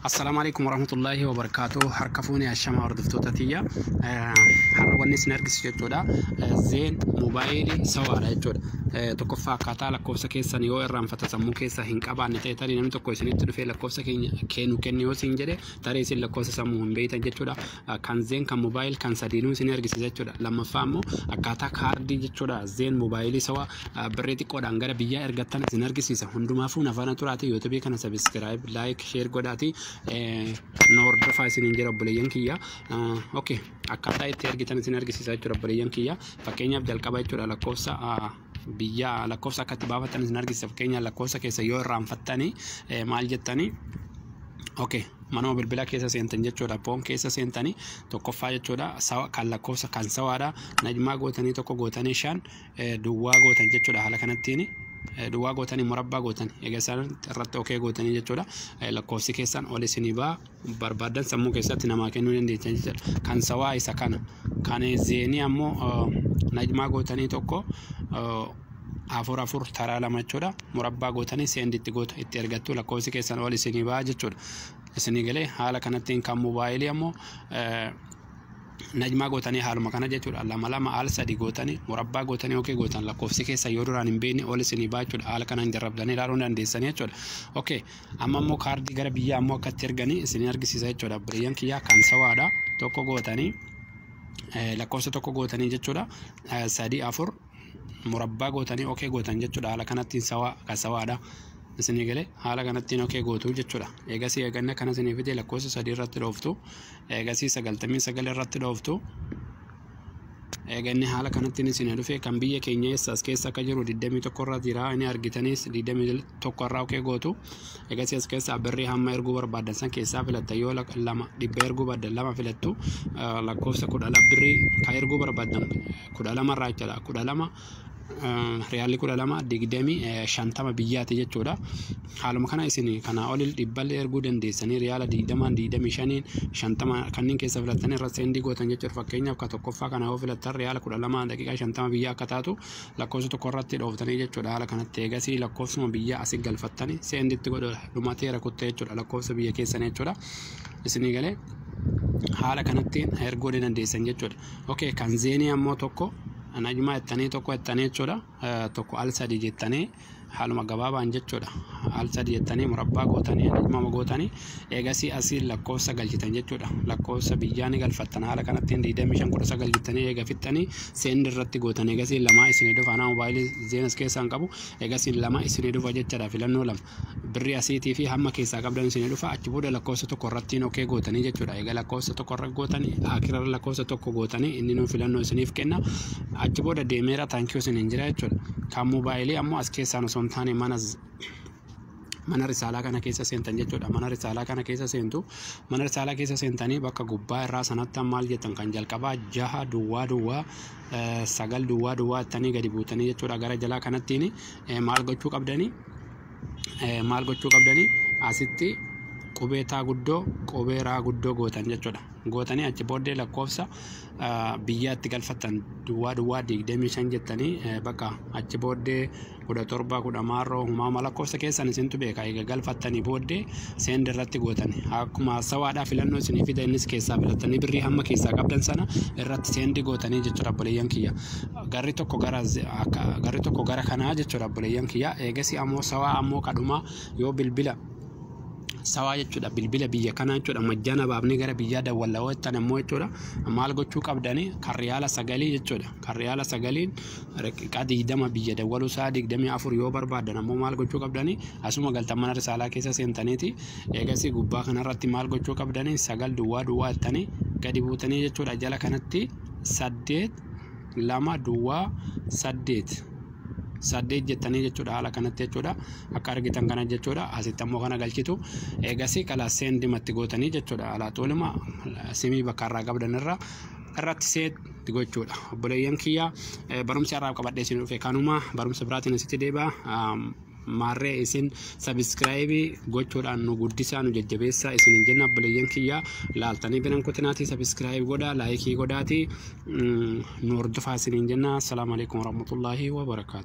Assalaamu alaikum warahmatullaahi wabarakaatu harka fuune ashamaa hordoftoota tiyya har'a wanni isin argisiisu jechuudha zeen moobaayilii sawaadha jechuudha tokkoffaa akkaataa lakkoofsa keessan yoo irraanfata sammuu keessa hin qabaanne ta'e tarii namni tokko isinitti dhufee lakkoofsa keenya kennu kennu yoo isin jedhe tarii isin lakkoofsa sammuu hin beektan jechuudha kan zeen kan moobaayil kan sadiinuu isin argisiisa jechuudha lammaffaa immoo akkaataa kaardii jechuudha zeen moobaayilii sawaa birrii xiqqoodhaan gara biyyaa ergattan isin argisiisa hundumaafuu nafaana turaatii yuutubii kana sabiskiraayib laayik sheer godhaatii nu hordofaa isiniin jira obboleeyyan kiyya okay akkaataa itti ergitan isin argisiisa jechuudha obboleeyyan kiyya fakkeenyaaf jalqaba jechuudha lakkoofsa biyya lakkoofsa akka itti baafatan isin argisiisa fakkeenyaaf lakkoofsa keessa yoo irraanfattanii maal jettanii okay manuma bilbila keessa seentan jechuudha poon keessa seentanii tokkoffaa jechuudha sawa kan lakkoofsa kan sawaadha najmaa gootanii tokko gootanii shan duwwaa gootan jechuudha haala kanattiin duwwaa gootanii murabbaa gootan egaa isaan irratti okee gootanii jechuudha lakkoofsi keessan ol isinii baa barbaadan sammuu keessatti namaa kennuu dandeettan jechuudha kan sawaa isa kana kan zeenii ammoo najmaa gootanii tokko afur afur taraa lama jechuudha murabbaa gootanii seendi itti gootu itti ergattu lakkoofsi keessan ol isinii baa jechuudha isinii galee haala kanattiin kan mobaayilii ammoo najmaa gootanii haaluma kana jechuudha lama lama al sadi gootanii murabbaa gootanii okee gootan lakkoofsi keessa yoo duraan hin beekne ol isinii baachuudha haala kanaan jarrabdanii ilaaluu dandeessanii jechuudha okee amma immoo kaardii gara biyyaa ammoo akkatti erganii isinii argisiisa jechuudha biriyyan kiyyaa kan sawaadha tokko gootanii lakkoofsa tokko gootanii jechuudha sadii afur murabbaa gootanii okee gootan jechuudha haala kanattiin sawaa kan sawaadha isinii galee haala kanattiin okee gootu jechuudha eegasii eeganna kana isinii fidee lakkoofsa sadii irratti dhooftu eegasii sagaltamii sagal irratti dhooftu eeganni haala kanattiin isinii dhufee kan biyya keenya eessaas keessa akka jiru 21 irra jira inni argitanis 20 tokko irraa oqee gootu egasii as keessaa birrii hamma erguu barbaadan san keessaa filatta yoo lak- lama dhibba erguu barbaaddan lama filattu eh, lakkoofsa kudha lama birrii kan erguu barbaadan kudha lama irraa jechuudha kudha lama eh, riyaalli kudha lama digdamii eh, shantama biyyaati jechuudha haaluma kana isin kanaa olil dhibballee erguu dandeessanii riyaala digdamaan digdamii shaniin shantama kanneen keessa filattanii irra seendii gootan jechuudha fakkeenyaaf ka tokkoffaa kana yoo filattan riyaala kudha lama daqiiqaa shantama biyya akka taatu lakkoofsa tokko irratti dhooftanii jechuudha haala kanatti eegasii lakkoofsuma biyya asi galfattanii seenditti godhu dhumatee rakutte jechuudha lakkoofsa biyya keessan jechuudha isinii galee haala kanatti erguu ni dandeessan jechuudha okay kan zeenii ammoo tokko najmaa jettanii tokko jettanii jechuudha tokko al sadii jettanii haaluma gabaabaan jechuudha al sadi jettanii murabbaa gootanii ajajmama gootanii eegasii asiin lakkoofsa galchitan jechuudha lakkoofsa biyyaa ni galfattan haala kanatti hin diidamii shan kudha sagal jettanii eega fixxanii seendi irratti gootan eegasii lamaa isinii dhufa anaa mobaayilii zeenas keessaa hin qabu eegasii lama isinii dhufa jechaadha filannoo lama birrii asiitii fi hamma keessaa qabdan isinii dhufa achi booda lakkoofsa tokko irratti hin okee gootanii jechuudha eega lakkoofsa tokko irra gootanii akirarra lakkoofsa tokko gootanii inni nuu filannoo isiniif kenna achi booda deemeera taankiyuu isin hin jira jechuudha. Kan moobaayilii ammoo as keessaan osoo hin taane mana mana risaalaa kana keessa seentan jechuudha. Mana risaalaa kana keessa seentu. Mana risaalaa keessa seentanii bakka gubbaa irraa sanatti maal jettan kan jalqabaa jaha duwwaa duwwaa sagal duwwaa duwwaa ittanii gadi buutanii jechuudha. Gara jalaa kanattiin maal gochuu qabdanii? Maal gochuu qabdanii? Asitti qubee taa guddoo qubee raa guddoo gootan jechuudha. Gootanii achi booddee lakkoofsa biyyaatti galfattan duwwaa duwwaa 25 jettanii bakka achi booddee 17 10 maarroo humaama lakkoofsa keessan isintu beeka eega galfattanii booddee seend irratti gootan akkuma sawaadhaa filannoo isinii fida innis keessaa filattanii birrii hamma keessaa qabdan sana irratti seendi gootanii jechuudha obboleeyyan kiyya garri tokko gara garri tokko gara kanaa jechuudha obboleeyyan kiyya eegasi ammoo sawaa ammoo kadhumaa yoo bilbila sawaa jechuudha bilbila biyya kanaa jechuudha majjaana baafnee gara biyyaa dawwalla hojjetan ammoo jechuudha maal gochuu qabdani kan riyaala sagalii jechuudha kan riyaala sagaliin riqiqaa digdama biyya dawwaluu isaa digdamii afur yoo barbaadan ammoo maal gochuu qabdani asuma galtan mana risaalaa keessa seentaniiti eegasii gubbaa kanarratti maal gochuu qabdani sagal duwwaa duwwaa jettanii gadi buutanii jechuudha jala kanatti saddeet lama duwwaa saddeet saddeet jettanii jechuudha haala kanatti jechuudha akka argitan kana jechuudha asitti ammoo kana galchitu eegasii kala seendimatti gootanii jechuudha alaa tuulima simii bakka irraa qabdan irraa irratti seetti gochuudha obboleeyyan kiyya barumsi irraa qabadhee isin dhufe kanuma barumsa biraatiin asitti deebi'a maarree isin sabiskiraayibii gochuudhaan nu guddisaa nu jajjabeessaa isin hin jenna obboleeyyan kiyya laaltanii biran kutinaatii sabiskiraayibii godhaa laayikii godhaatii nu hordofaa isin hin jenna assalaamu alaikum warahmatullaahi wabarakaatu